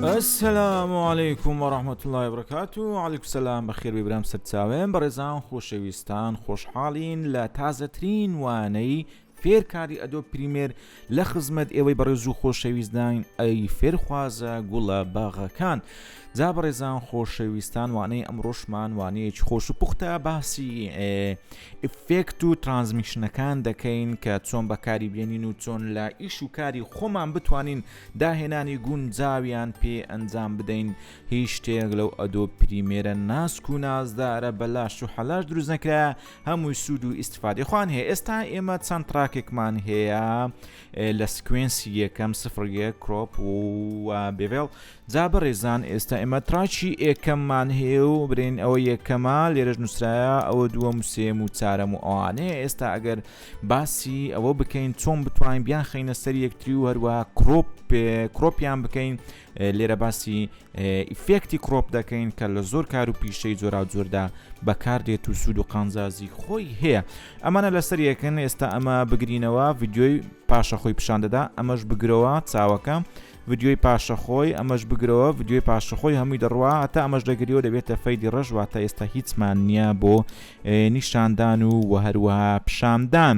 السلام علیکم و رحمت اللە وبرکات و علیکم سلام بەخێر ببرام سەرچاوێن بەڕێزان خۆشەویستان خۆشحاڵین لە تازەترین وانەی فێرکاری ئەدۆب پریمێر لە خزمەت ئێوەی بەڕێز و خۆشەویستداین ئەی فێرخوازە گوڵە باغەکان جا بەڕێزان خۆشەویستان وانەی ئەمڕۆشمان وانەیەکی خۆش و پوختە باسی ئفێکت و ترانزمیشنەکان دەکەین کە چۆن بەکاری بێنین و چۆن لە ئیش و کاری خۆمان بتوانین داهێنانی گونجاویان پێ ئەنجام بدەین هیچ شتێک لەو ئەدۆ پریمێرە ناسک و نازدارە بەلاش و حەلاش دروست نەکرا هەمووی سوود و ئیسفادی خۆیان هەیە ئێستا ئێمە چەند تراکێکمان هەیە لە سکوێنسی یەکەم سفرە کرۆپ و بێڤێڵ جا بەڕێزان ئێستا ئێمە تراچی ئێکەممان هەیە و برێن ئەوە یەکەمە لێرەش نووسراە ئەوە دووە موسێم و چارەم و ئەوانەیە ئێستا ئەگەر باسی ئەوە بکەین چۆن بتوانین بیان خینە سەر یەکتری و هەروە کرۆپ کرۆپیان بکەین لێرە باسی ئیفێکتی کڕۆپ دەکەین کە لە زۆر کار و پیشەی جۆراوجۆردا بەکاردێت و سوود و قانزازی خۆی هەیە ئەمانە لەسەر یەکەن ئێستا ئەمە بگرینەوە ڤیددیۆی پاشە خۆی پیشان دەدا ئەمەش بگرەوە چاوەکە ڤیددیۆی پاشەخۆی ئەمەش بگرەوە ڤیددیۆی پاشەخۆی هەمووی دەڕوا هەتا ئەمەش دەگریەوە دەبێتە فەیدی ڕژواتە ئێستا هیچمان نییە بۆ نیشاندان و وهروەها پیشاندان.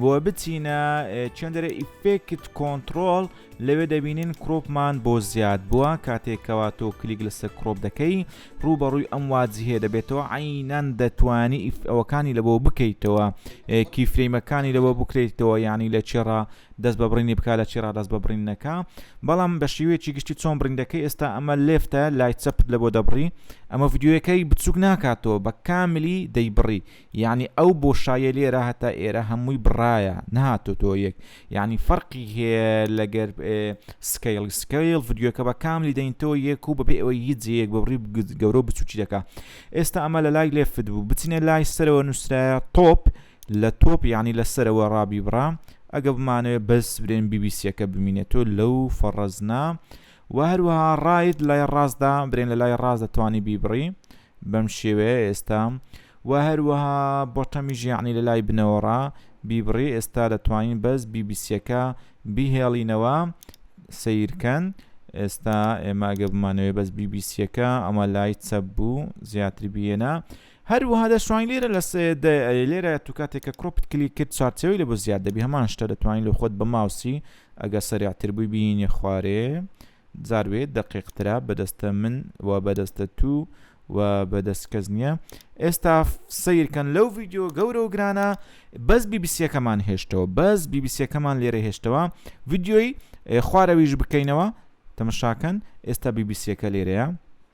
بۆ بچینە چندرە ئیفێکت کۆنتترۆل لەوێ دەبینین کڕۆپمان بۆ زیاد بووە کاتێکەوە تۆ کلیک لەسەر کڕۆپ دەکەی ڕوبەڕووی ئەم واجهێ دەبێتەوە عینەن دەتوانی ئەوەکانی لە بۆ بکەیتەوە کیفریمەکانی لەوە بکرێتەوە ینی لە چێڕا دەست بە بڕینی بک لە چێرا دەست بە بڕینەکە بەڵام بە شێوەیەکی گشتی چۆن بریندەکە ئێستا ئەمە لێفتە لای چەپت لە بۆ دەبڕی ئەمە یددیوەکەی بچووک ناکاتەوە بە کاملی دەیبڕی یەعنی ئەو بۆشاییە لێرە هەتا ئێرە هەمووی بڕایە نەهاتۆتۆ یەک یەعنی فەرقی هەیە لەگەر سکەیڵی سکەیڵ ڤیدیۆکە بە کاملی دەینتۆ یەک و بەبێ ئەوەی هیچ جەیەک بەڕی گەورە و بچوکی دەکا ئێستا ئەمە لە لای لێفت بوو بچینە لای سەرەوە نووسراە تۆپ لە تۆپ یەعنی لە سەرەوە ڕابی بڕام ئەگە بمانەوێت بەس برێن بیبیسیەکە بمینێتۆ لەو فەڕەزنا وە هەروەها ڕایت لای ڕاستدا برێن لە لای ڕاست دەتوانی بیبڕی بەم شێوەیە ئێستا وە هەروەها بۆتەمیژ یعنی لە لای بنەوەڕا بیبڕی ئێستا دەتوانین بەس بیبیسیەکە بیهێڵینەوە سیرکەن ئێستا ئێمە ئەگە بمانەوەی بەس بیبیسیەکە ئەمە لای چەپ بوو زیاتری بهێنە هەر وەها دەشتوانی لێرە لە لێرە تو کاتێک کە کڕۆپت کلی کرد چارچەوەی لە بۆ زیاد دەبی هەمان شتە دەتوانین لە خۆت بە ماوسی ئەگە سەرعتر بووی بینێ خوارێ زاروێ دەقیقترا بەدەستە من و بەدەستە تو و بەدەست کەس نییە ئێستا سیرکەن لەو ڤیددیو گەورە و گرانە بەس بیبیسیەکەمان هێشتەوە بەس بیبیسیەکەمان لێرە هێشتەوە ڤیددیۆی خوارەویش بکەینەوە تەمەشاکەن ئێستا بیبیسیەکە لێرەیە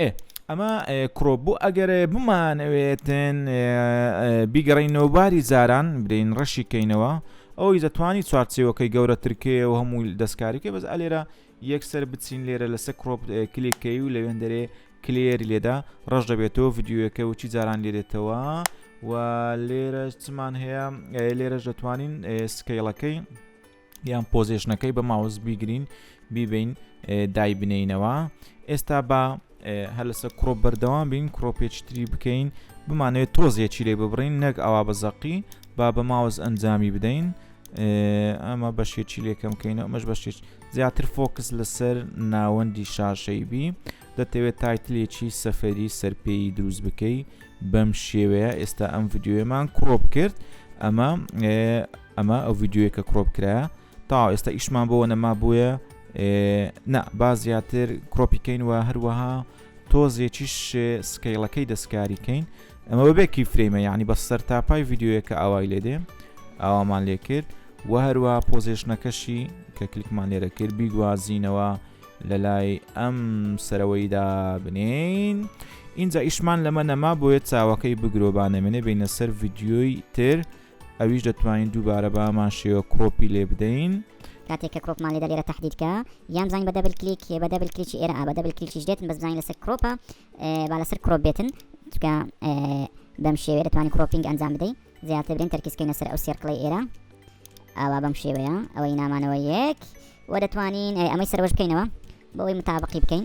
ئێ ئەمە کڕۆ بۆ ئەگەر بمانەوێتن بیگەڕینەوە باری زاران بدەین ڕەشی کەینەوە ئەوی دەتوانی چوارچێوەکەی گەورەترکێ و هەموو دەستکاریکە بەس ئەلێرە یەکسەر بچین لێرە لەسەر کڕۆپ کلێکەی و لەوێندەرێ کلێر لێدا ڕەش دەبێتەوە یددیوەکە و چی جاران لێرێتەوە و لێرە چمان هەیە لێرەش دەتوانین سکەیڵەکەی یان پۆزیشنەکەی بە ماوس بیگرین بیبین دایبنینەوە ئێستا بە هەلسە کڕۆپ بەردەوام بین کڕۆپێچتری بکەین بمانەوێت تۆزیەکی لێ ببڕین نەک ئەوا بە زەقی با بە ماوس ئەنجامی بدەین ئەمە بەشێکی لێکەم کەینەوە ئەمەش بەشێک زیاتر فۆکس لەسەر ناوەندی شاشەی بی دەتەوێت تایتلێکی سەفەری سەرپێی دروست بکەی بەم شێوەیە ئێستا ئەم یددیوێمان کڕۆپ کرد ئەمە ئەمە ئەو ڤیددیوە کە کڕۆپ کرایە تا ئێستا ئیشمان بۆ نەما بووە نا با زیاتر کڕۆپیکەین و هەروەها تۆزێکیش سکەیڵەکەی دەستکاری کەین ئەمە بەبێکی فرەیمە یعنی بە سەر تا پای ڤیددیوەکە ئاوای لێ دێ ئاوامان لێ کرد و هەروە پۆزیشنەکەشی کە کلیکمان لێرە کرد بیگوازینەوە لە لای ئەم سەرەوەیدا بنین اینجا ئیشمان لەمە نەما بۆیە چاوەکەی بگرۆبانەمێنێ بینە سەر ڤیددیۆی تر ئەویش دەتوانین دووبارە بە هەمان شێوە کۆپی لێ بدەین. کاتێک کە کڕۆپمان لێدە لێرە تهدید کە یان بزانین بە دەبل کلیک بە دەبل کلیکی ئێرە ئا بە دەبل کلیکیش دێتن بەس بزانین لەسەر کڕۆپە با لەسەر کڕۆپ بێتن چکە بەم شێوێ دەتوانین کڕۆپینگ ئەنجام بدەین زیاتر برین تەرکیزکەینە سەر ئەو سێرکڵی ئێرە ئاوا بەم شێوەیە ئەوەی نامانەوە یەک و دەتوانین ئەمەی سەرۆش بکەینەوە بەوەی متابقی بکەین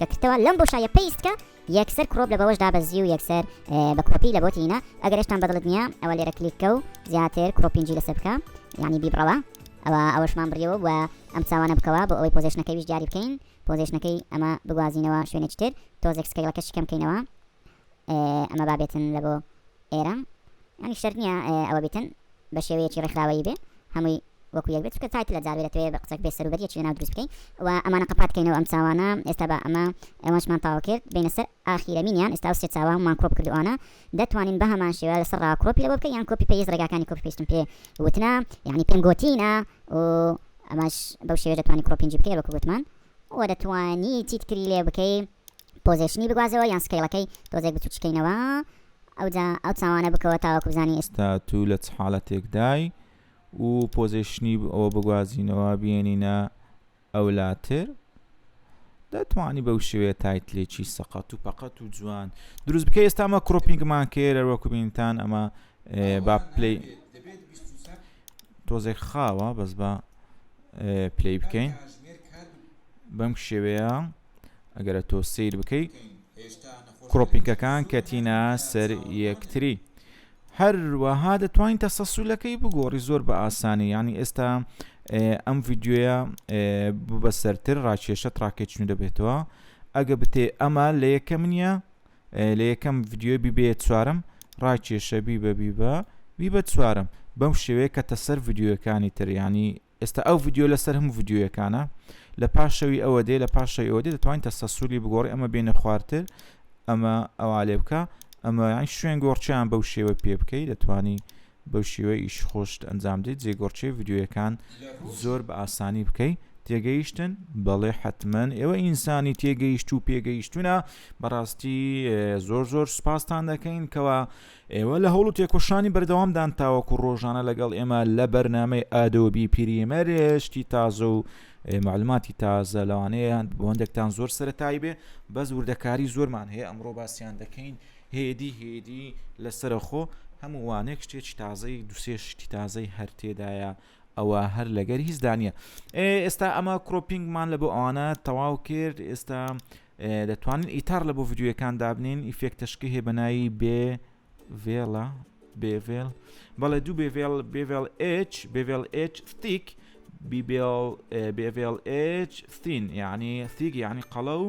دەکرتەوە لەم بۆشایە پەیستکە یەکسەر کرۆپ لە بەوەش دابەزی و یەکسەر بە کۆپی لە بۆتی هینا ئەگەر ئێشتان بەدڵت نییە ئەوە لێرە کلیککە و زیاتر کرۆپینجی لەسەر بکە یعنی بیبڕەوە ئەوە ئەوەشمان بڕیەوە و ئەم چاوانە بکەوە بۆ ئەوەی پۆزیشنەکەیش دیاری بکەین پۆزیشنەکەی ئەمە بگوازینەوە شوێنێکی تر تۆزێک سکەیڵەکەشی کەم بکەینەوە ئەمە با بێتن لە بۆ ئێرە یانی شەرت نییە ئەوە بیتن بە شێوەیەکی ڕێکخراوەیی بێ هەمووی وەکو یەک بێت کە تایت لە جاوێ دەتوێت بە قسەک بێ سەروبەریەکی لەناو دروست بکەین و ئەمانە قەپات کەینەوە ئەم چاوانە ئێستا بە ئەمە ئەوەشمان تاوا کرد بینە سەر ئاخیرەمینیان ئێستا سێ چاوانمان کۆپ کردوانە دەتوانین بە هەمان شێوە لەسەر ڕا کۆپی لەوە بکە یان کۆپی پێیز ڕێگاکانی کۆپی پێشتم پێ وتنا یعنی پێم گۆتینە و ئەمەش بەو شێوێ دەتوانانی کۆپینجی بکەی وەکو گوتمان وە دەتوانی چیت تری لێ بکەی پۆزێشنی بگوازەوە یان سکەیڵەکەی تۆزێک بچوکی کەینەوە ئەوجا ئەو چاوانە بکەوە تاوەکو بزانی ئێشت. تا تو لە چ حالەتێک دای و پۆزێشنی ئەوە بگوازینەوە بیێنینە ئەولاتر دەتوانی بەو شێوەیە تایت لێکی سەقەت و پەقەت و جوان دروست بکە ئێستا ئەمە کڕۆپینگمان کرد هەروەکو بینتان ئەمە با پلی تۆزێک خاوە بەس بە پلی بکەین بەم شێوەیە ئەگەرە تۆ سیر بکەی کڕۆپینکەکان کەتینا سەر یەکتری هەروەها دەتوانین تە سەسولەکەی بگۆڕی زۆر بە ئاسانی ینی ئێستا ئەم ڤیددیوە ببەسەرتر ڕاکێشە تراکێچنی دەبێتەوە ئەگە بتێ ئەمە لە یەکەم نیە لە یەکەم ڤیدیۆی بیبەیە چوارەم ڕاکێشە بیبە بیبە بیبە چوارەم بەم شێوەیە کە تەسەر ڤیددیوەکانی تریانی ئێستا ئەو ڤیددیو لەسەر هەم ڤیددیوەکانە لە پاشەوی ئەوە دێ لە پاشەوی ئەوە دێ دەتوانین تەستە سووری بگۆڕی ئەمە بینە خوارتر ئەمە ئەوە لێ بکە ئەمە شوێن گۆڕچیان بەو شێوە پێ بکەی دەتوانی بەو شێوەی ئیش خۆشت ئەنجام دەی جێگۆڕچێ ڤیدیۆیەکان زۆر بە ئاسانی بکەی تێگەیشتن بەڵێ حتممەن ئێوە ئینسانی تێگەیشت و پێگەیشتونە بەڕاستی زۆر زۆر سوپاستان دەکەین کەەوە ئێوە لە هەوڵ و تێکۆشانی بەردەوامدان تاوەکو ڕۆژانە لەگەڵ ئێمە لە بەرنمەی ئادۆبی پیریمەرێشتی تازە و معلوماتی تازە لەوانەیە بۆندێکتان زۆر سەتایی بێ بەس وردەکاری زۆرمان هەیە ئەمڕۆ باسییان دەکەین هێدی هێدی لە سەرەخۆ هەموو وانێک شتێکی تازەی دوسێ شتی تازەی هەر تێدایە ئەوە هەر لەگەر هیچ دانە ئێستا ئەمە کرۆپینگمان لە بۆ ئەوانە تەواو کرد ئێستا دەتوانین ئیتار لە بۆ یددیوەکان دابنین ئیفێکتەشکی هەیە بەناوی بێ ڤێڵە بێڤێل بەڵێ دوو بێڤێل بێڤێل H بێڤێل H ستیک بیبێڵ بێڤێل H ستین یعنی ستیک یعنی قەڵە و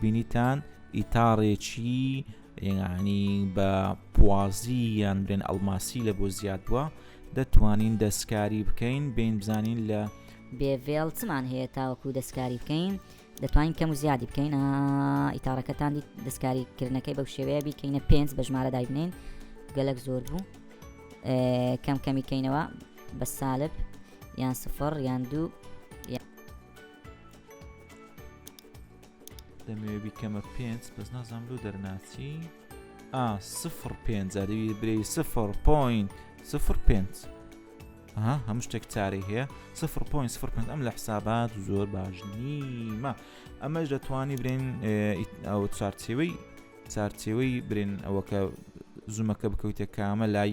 بینیتان ئیتاڕێکی یەنگانی بە پوازی یان بێن ئەلماسی لە بۆ زیاد بووە دەتوانین دەستکاری بکەین بین بزانین لە بێڤێڵ چمان هەیە تاوەکو دەستکاری بکەین دەتوانین کەم و زیادی بکەین ئیتارەکەتان دیت دەستکاری کردنەکەی بەو شێوەیە بیکەینە پێنج بە ژمارە دایبنین گەلک زۆر بوو کەم کەمی کەینەوە بە سالب یان سفر یان دوو دەمەوێ بیکەمە پێنج بەس نازانام لۆ دەرناچی ئا سفر پێنج دەوی برێ سفر پوین سفر پێنج ها هەموو شتێک چارەی هەیە سفر پوین سفر پێنج ئەم لە حسابات زۆر باش نیمە ئەمەش دەتوانی برێن ئەو چارچێوەی چارچێوەی برێن ئەوەکە زومەکە بکەوتە کامە لای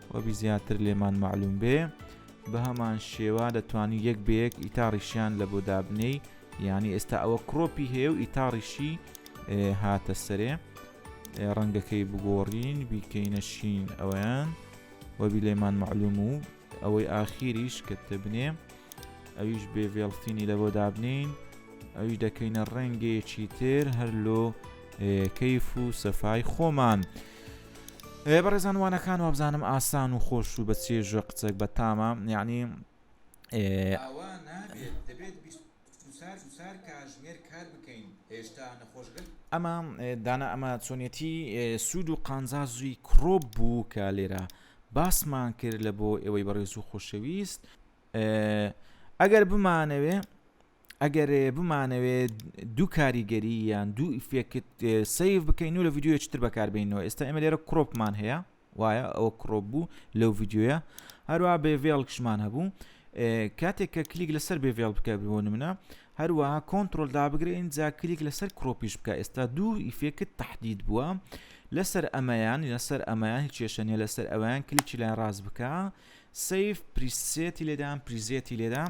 وەبی زیاتر لێمان معلوم بێ بەهەمان شێوا دەتوانی یەک بەیەک ئیتاڕیشیان لە بۆ دابنێی یعنی ئێستا ئەوە کڕۆپی هەیە و ئیتاڕیشی هاتە سەرێ ڕەنگەکەی بگۆڕین بیکەینە شین ئەویان وەبی لێمان معلوم و ئەوەی ئاخیریش کە دەبنێ ئەویش بێ ڤێڵفینی لە بۆ دابنین ئەویش دەکەینە ڕەنگێکی تر هەر لۆ کەیف و سەفای خۆمان بەڕێزان وانەکان وابزانم ئاسان و خۆش و بە چێژ و قچێک بە تامە یعنی ئەمە دانا ئەمە چۆنیەتی سوود و قانزازوی کڕۆپ بوو کە لێرە باسمان کرد لە بۆ ئێوەی بەڕێز و خۆشەویست ئەگەر بمانەوێ ئەگەر بمانەوێ دوو کاریگەری یان دوو ئیفێکت سیف بکەین و لە یددیوەکی تر بەکاربینەوە ئێستا ئمە لێرە کڕۆپمان هەیە وایە ئەوە کڕۆپ بوو لەو یددیوە هەروە بێڤێڵکشمان هەبوو کاتێک کە کلیک لەسەر بێڤێڵ بکە بۆ منە هەروەها کۆنتترۆل دابگرە ئینجا کلیک لەسەر کڕۆپیش بکە ئێستا دوو ئیفێکت تهدید بووە لەسەر ئەمەیان لەسەر ئەمەیان هیچ کێشەنیە لەسەر ئەویان کلیکی لای ڕاست بکە سیف پریسێتی لێدان پریزێتی لێدان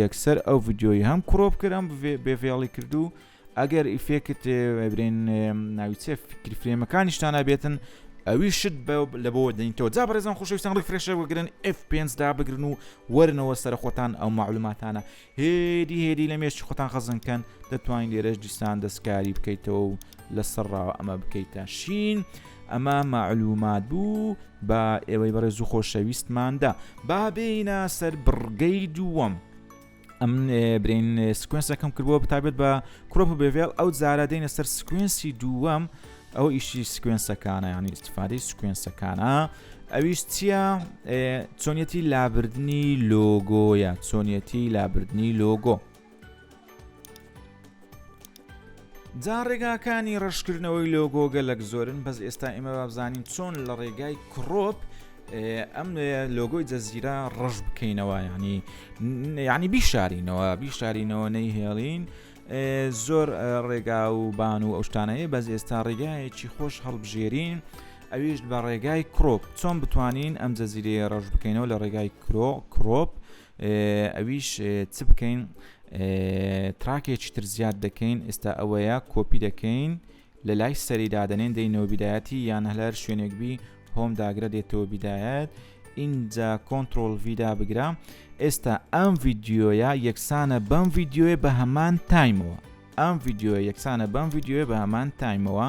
یەکسەر ئەو ڤیدیۆی هەم کڕۆپ کرد ئەم بێڤێڵی کرد و ئەگەر ئیفێکت برێن ناوی چێ فکری فرێمەکانیشتان نابێتن ئەوی شت لە بۆ دەینتەوە جا بەڕێزان خۆشەویستان ڕی فرێشە بگرن F5 دا بگرن و وەرنەوە سەر خۆتان ئەو معلوماتانە هێدی هێدی لە مێشتی خۆتان خەزنکەن دەتوانین لێرەش دیسان دەستکاری بکەیتەوە و لەسەر ڕاوە ئەمە بکەیتە شین. ئەمە مەعلومات بوو بە ئێوەی بەڕێز و خۆشەویستماندا با بێینە سەر بڕگەی دووەم. ئەم برین سکوێنسەکەم کردووە بتابێت بە کوڕپ و بێڤێل ئەو زارە دێنە سەر سکوێنسی دووەم ئەو ئیشی سکوێنسەکانە یانی استفادی سکوێنسەکانە ئەویش چییە چۆنیەتی لابردنی لۆگۆیە چۆنیەتی لابردنی لۆگۆ. جا ڕێگاکانی ڕشکردنەوەی لۆگۆ گەلک زۆرن بەس ئێستا ئێمە بابزانین چۆن لە ڕێگای کڕۆپ ئەم لۆگۆی جەززیرا ڕژ بکەینەوە ینی ینی بیشارینەوە بیشارینەوە نەیهێڵین زۆر ڕێگا و بان و ئەوشتانەیە بەس ئێستا ڕێگایەکی خۆش هەڵبژێرین ئەویش بە ڕێگای کڕۆپ چۆن بتوانین ئەم جەزیرەیە ڕژ بکەینەوە لە ڕێگای کرۆ کڕۆپ ئەویش چ بکەین تراکێکی تر زیاد دەکەین ئێستا ئەوەیە کۆپی دەکەین لە لای سەری دادەنێن دەینەوە بیدایەتی یان هەلار شوێنێک بی هۆم داگرە دێتەوە بیدایەت ئینجا کۆنتترۆل ویدا بگرە ئێستا ئەم ڤیددیویە یەکسانە بەم ڤیددیوێ بە هەمان تایمەوە ئەم ڤیددیوە یەکسانە بەم ڤیددیوێ بە هەمان تایمەوە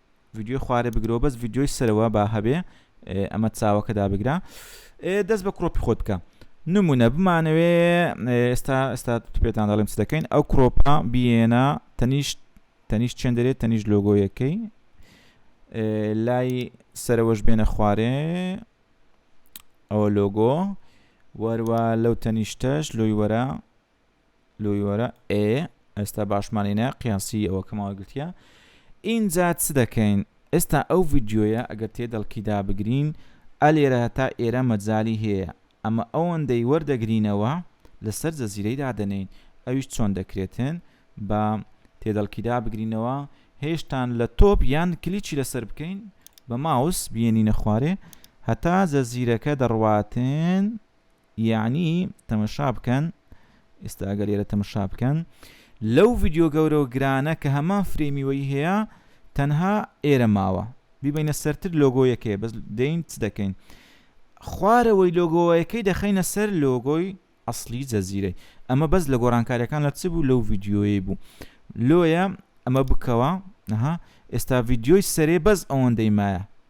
ڤیدیۆی خوارێ بگرەوە بەس ڤیدیۆی سەرەوە با هەبێ ئەمە چاوەکە دابگرە دەست بە کڕۆپی خۆت بکە نمونە بمانەوێ ئێستا ئێستا پێتان دەڵێم چ دەکەین ئەو کڕۆپە بیێنە تەنیشت تەنیشت چێن دەرێت تەنیشت لۆگۆیەکەی لای سەرەوەش بێنە خوارێ ئەوە لۆگۆ وەروە لەو تەنیشتەش لۆی وەرە لۆی وەرە ئێ ئێستا باشمان لێنە قیاسی ئەوە کەماوە گرتیە ئینجا چ دەکەین ئێستا ئەو ڤیددیویە ئەگەر تێ دەڵکیدا بگرین ئەلێرە هەتا ئێرە مەجای هەیە ئەمە ئەوەندەی وەردەگرینەوە لەسەر جەزیرەی دادەنین ئەویش چۆن دەکرێتن بە تێدەڵکیدا بگرینەوە هێشتان لە تۆپ یان کلیچی لەسەر بکەین بە ماوس بینینە خوارێ هەتا جەزیرەکە دەڕواتن یەعنی تەمەشا بکەن ئێستا ئەگەر لێرە تەمەشا بکەن لەو ڤیددیو گەورەوە گرانە کە هەمان فرێمیوەی هەیە تەنها ئێرە ماوە بیبینە سەرتر لۆگۆیەکەی بەس دەین چ دەکەین خوارەوەی لۆگۆیەکەی دەخینە سەر لۆگۆی ئەسلی جەزیرەی ئەمە بەس لە گۆڕانکاریەکان لە چ بوو لەو ڤیددیویی بوو لۆیە ئەمە بکەوە نەها ئێستا ڤیددیۆی سەرێ بەس ئەوەندەی مایە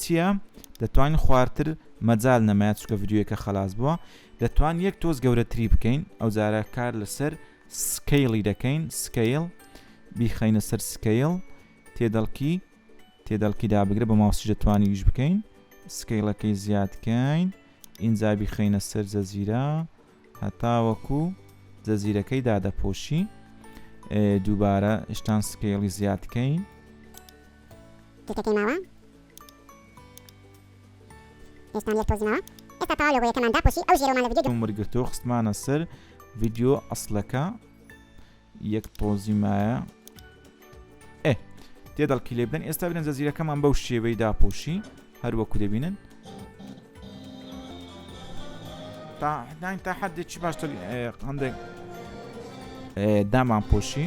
چیە دەتوانین خوارتر مەجال نەمایا چونکە ڤیدیۆیەکە خەلاس بووە دەتوان یەک تۆز گەورەتری بکەین ئەو جارە کار لەسەر سکەیڵی دەکەین سکەیڵ بیخەینە سەر سکەیڵ تێدەڵکی تێدەڵکی دابگرە بە ماوسی دەتوانین یش بکەین سکەیڵەکەی زیادکەین ئینجا بیخەینە سەر جەزیرە هەتاوەکو جزیرەکەی دادەپۆشی دووبارە شتان سکێڵی زیادکەین تیکەکەی ماوە ئێستان یەک تۆزی ماوە ئێستا تەواو لۆگۆیەکەمان داپۆشی ئەو ژێرۆمان لە ڤیدیۆ وەرگرتەوە خستمانە سەر ڤیدیۆ ئەسلەکە یەک تۆزی مایە ئێ تێدەڵکی لێ بدەن ئێستا بنە زەزیرەکەمان بەو شێوەی داپۆشی هەروەکو دەبینن تاحداین تا حدێکی باشتر هەندێک دامان پۆشی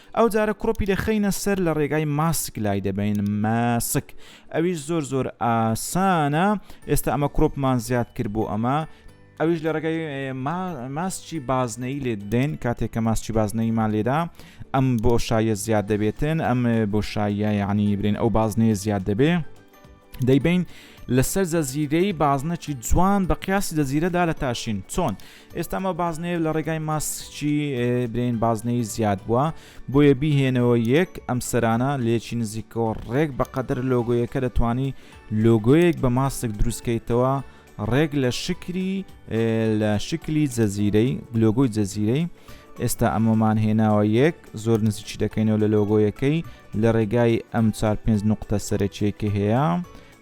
ئەو جارە کڕۆپی دەخەینە سەر لە ڕێگای ماسک لای دەبین ماسک ئەویش زۆر زۆر ئاسانە ئێستا ئەمە کڕۆپمان زیاد کرد بۆ ئەمە ئەویش لە ڕێگای ماسکی بازنەی لێ دێن کاتێک کە ماسکی بازنەیمان لێدا ئەم بۆشاییە زیاد دەبێتن ئەم بۆشاییە یعنی برێن ئەو بازنەیە زیاد دەبێ دەیبین لەسەر جەزیرەی بازنەکی جوان بە قیاسی جەزیرەدا لە تاشین چۆن ئێستامە بازنەیە لە ڕێگای ماسکی برین بازنەی زیاد بووە بۆیە بیهێنەوە یەک ئەم سەرانە لێکی نزیکەوە ڕێک بەقەدر لۆگۆیەکە دەتوانی لۆگۆیەک بە ماسک دروستکەیتەوە ڕێک لە شکری لە شکلی جەزیرەی لۆگۆی جەزیرەی ئێستا ئەمەمان هێناوە یەک زۆر نزیکی دەکەینەوە لە لۆگۆیەکەی لە ڕێگای ئەم چار پێنج نقطە سەرەکیەکە هەیە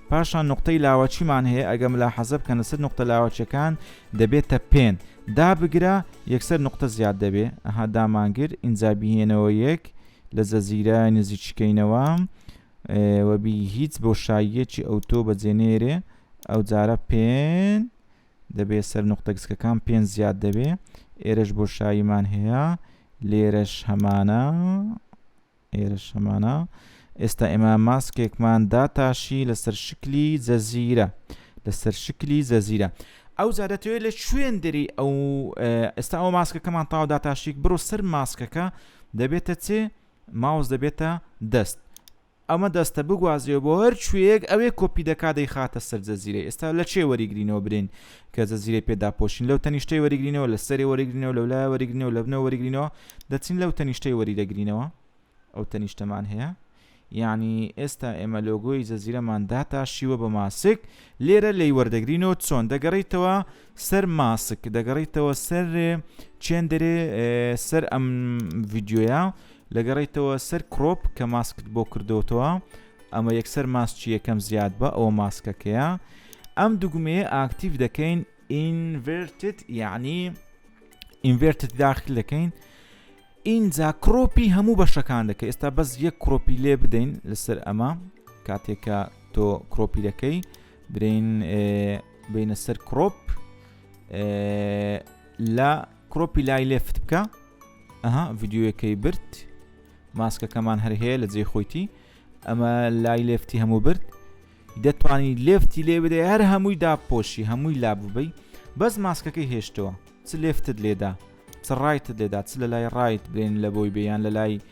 پاشان نقطەی لاوەچیمان هەیە ئەگەم لا حەزب کە لەسەر نقطە لاوەچەکان دەبێتە پێن دا بگرە یەکسەر نقطە زیاد دەبێ ئەها دامانگر ئینجا بهێنەوە یەک لە زەزیرە نزیکشکینەوە وە بی هیچ بۆ شاییەکی ئەوتۆ بە جێ نێرێ ئەو جارە پێن دەبێ سەر نقطە گسکەکان پێن زیاد دەبێ ئێرەش بۆ شاییمان هەیە لێرەش هەمانە ئێرە شەمانە ئێستا ئێمە ماسکێکمان داتاشی لەسەر شکلی جەزیرە لەسەر شکلی جەزیرە ئەو جا دەتەوێت لە شوێندری ئەو ئێستا ئەو ماسکەکەمان تاو داتاشیک بڕۆ سەر ماسکەکە دەبێتە چێ ماوس دەبێتە دەست ئەمە دەستە بگوازرێ بۆ هەر کوێیەک ئەوێ کۆپی دەکا دەیخاتە سەر جەزیرە ئێستا لە چێ وەریگرینەوە برین کە جەزیرە پێ داپۆشین لەو تەنیشتەی وەریگرینەوە لە سەری وەریگرینەوە لەو لای وەریگرینەوە لە بنەوە وەریگرینەوە دەچین لەو تەنیشتەی وەریدەگرینەوە ئەو تەنیشتەمان هەیە یعنی ئێستا ئێمە لۆگۆی جەزیرەمان داتاشیوە بە ماسک لێرە لی وەردەگرینەوە چۆن دەگەڕیتەوە سەر ماسک دەگەڕیتەوە سەر چێندرێ سەر ئەم ڤیددیوە لەگەڕیتەوە سەر کرۆپ کە ماسکت بۆ کردوتەوە ئەمە یەکسەر ماسچی یەکەم زیاد بە ئەوە ماسکەکەیە ئەم دوگمەیە ئاکتیڤ دەکەین ئینڤرتت یعنی ئینڤرتت داخل دەکەین ئینجا کرۆپی هەموو بەشەکان دەکە ئێستا بەس یەک کرۆپی لێ بدەین لەسەر ئەمە کاتێکە تۆ کرۆپی دەکەی برین بینە سەر کڕۆپ لە کڕۆپی لای لێفت بکە ئەها ڤیددیوەکەی برد ماسکەکەمان هەر هەیە لە جێ خۆیتی ئەمە لای لێفتی هەموو برد دەتوانی لێفتی لێ بدە هەر هەمووی داپۆشی هەمووی لا ببی بەس ماسکەکەی هێشتەوە چ لێفتت لێدا چ ڕایتت لێدا چ لە لای ڕایت بێن لە بۆی بێیان لە لای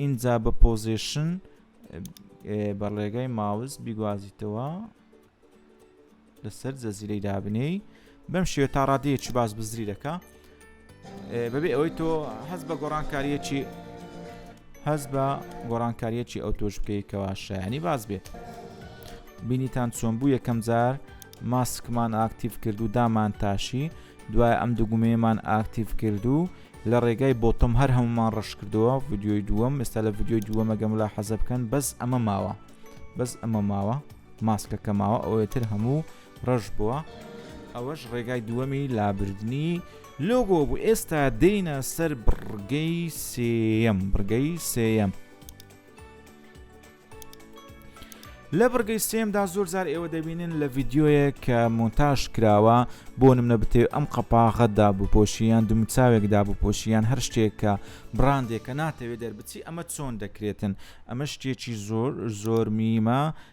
ئینجا بە پۆزێشن بە ڕێگای ماوس بیگوازیتەوە لەسەر زەزیرەی دابنێی بەم شێ تا ڕادەیەکی باز بزری دەکە بەبێ ئەوەی تۆ هەز بە گۆڕانکاریەکی هەز بە گۆڕانکاریەکی ئەو تۆش بکەیتەوە شایانی باز بێت بینیتان چۆن بوو یەکەم جار ماسکمان ئاکتیف کرد و دامان تاشی دوای ئەم دوو گومەیەمان ئاکتیڤ کرد و لە ڕێگای بۆتم هەر هەمومان ڕش کردەوە ڤیددیۆی دووەم ئێستا لە ڤیددیۆی دووەمەگەم لا حەزە بکەن بەس ئەمە ماوە بەس ئەمە ماوە ماسکەکە ماوە ئەوەیە تر هەموو ڕەش بووە ئەوەش ڕێگای دووەمی لابردنی لۆگۆ بوو ئێستا دێینە سەر بڕگەی سێەم بڕگەی سێەم لە بڕگەی سێمدا زۆر جار ئێوە دەبینن لە ڤیددیویە کە مۆنتاژ کراوە بۆ نمە بتێ ئەم قەپاغەتدا بپۆشیان دومچاوێکدا بپۆشیان هەر شتێک کە بڕاندێکە ناتەوێت دەربچی ئەمە چۆن دەکرێتن ئەمە شتێکی زۆر زۆر میمە